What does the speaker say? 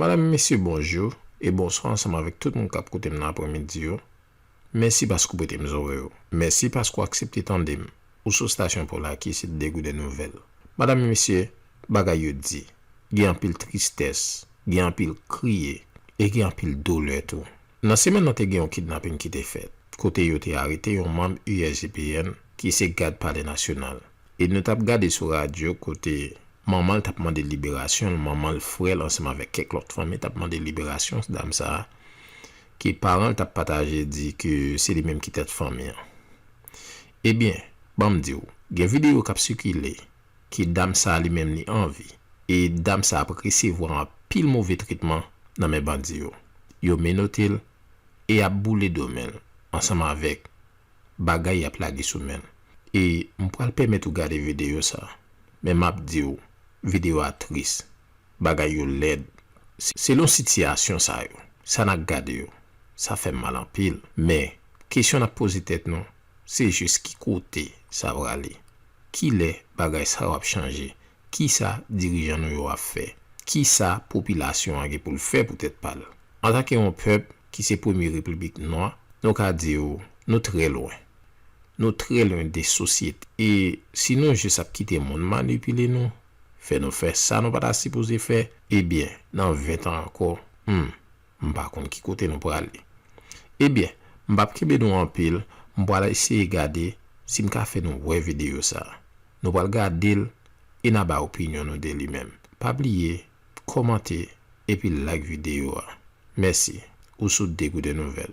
Madam e mesye bonjou e bonswa ansanm avèk tout moun kap koutem nan apremidi yo mèsi paske ou pretem zorey ou mèsi paske ou aksepte tandem ou sou stasyon Polaky se degouden nouvèl madam e mesye bagay yo di gen anpil tristès gen anpil kriye e gen anpil dolè tou nan semèn nan te gen yon kidnaping kite fèt kote yo te arete yon manm usgpn ki se gad palè nasyonal E nou t ap gade sou radyo kote manman l t ap mande liberasyon l, manman l, frè l ansanm avèk kèk lòt fanmi t ap mande liberasyon dam sa a ke paran l t ap pataje di ke se li menm ki tèt fanmi an. Ebyen, ban m di w, gen videyo k ap sikile ke dam sa a li menm li anvi e dam sa a ap resevwa anpil move tretman nan men bandi yo. Yo menote l e y ap boule do men l ansanm avèk bagay yap lage sou menl e m pral pèmèt ou gade video sa men map diw video a tris bagay yo lèd selon sitiyasyon sa yo sa na gade yo sa fèm mal anpil men kesyon nap poze tèt nou se jis ki kote sa prale kilè bagay sa yo ap chanje Ki sa dirijan nou yo ap fè? Ki sa popilasyon an gen pou l fè pou tèt pa l? Antanke yon pèp ki se premye repiblik nwa, nou ka di w nou trè lwen. Nou trè lwen de sosyete. E si nou jis ap kite moun manipile nou, fè nou fè sa nou pa ta sipoze fè, ebyen, nan ventan ankò, hum, m pa konn ki kote nou prale. Ebyen, m p ap kenbe nou anpil, m pral eseye gade si m ka fè nou wè videyo sa a. Nou pral gade l e na ba opinyon nou de li menm. Pa bliye kòmante epi like videyo a. Mèsi. Ou sou Degouden Nouvèl.